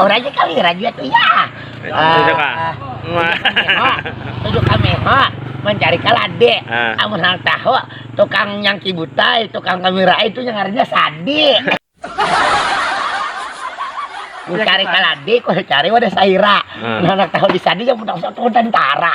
Oh raja kali, raja tuh ya. Tujuh kah? Tujuh kameho, mencari kalade. Ah. Amun hal tahu, tukang nyangki butai, tukang kamera itu yang ngarannya sadi. Mencari kalade, ku cari wadah saira. Mun handak tahu di sadi, ya mun tahu satu tentara.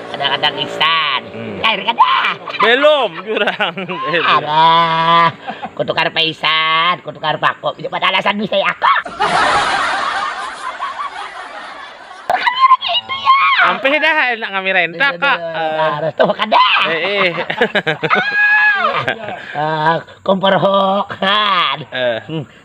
kadang-kadang ihsan hmm. kair kada belum jurang ada kutukar paisan kutukar bako itu pada alasan bisa ya aku Sampai dah enak ngamirain tak kak. Harus tuh kada. Eh. eh. Ah, kompor hok. Eh. Hmm.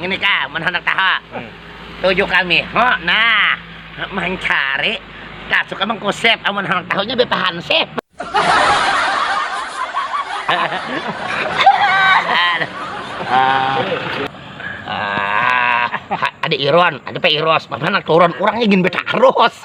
Ngini ka, mun handak tahu. Tuju kami. Ho, nah. Mancari. Tasu ka mangkusip. Amun handak tahunya BP hansip. Ada Iron, ada Pak Iros. Bapak handak turun. Urangnya gin betaros.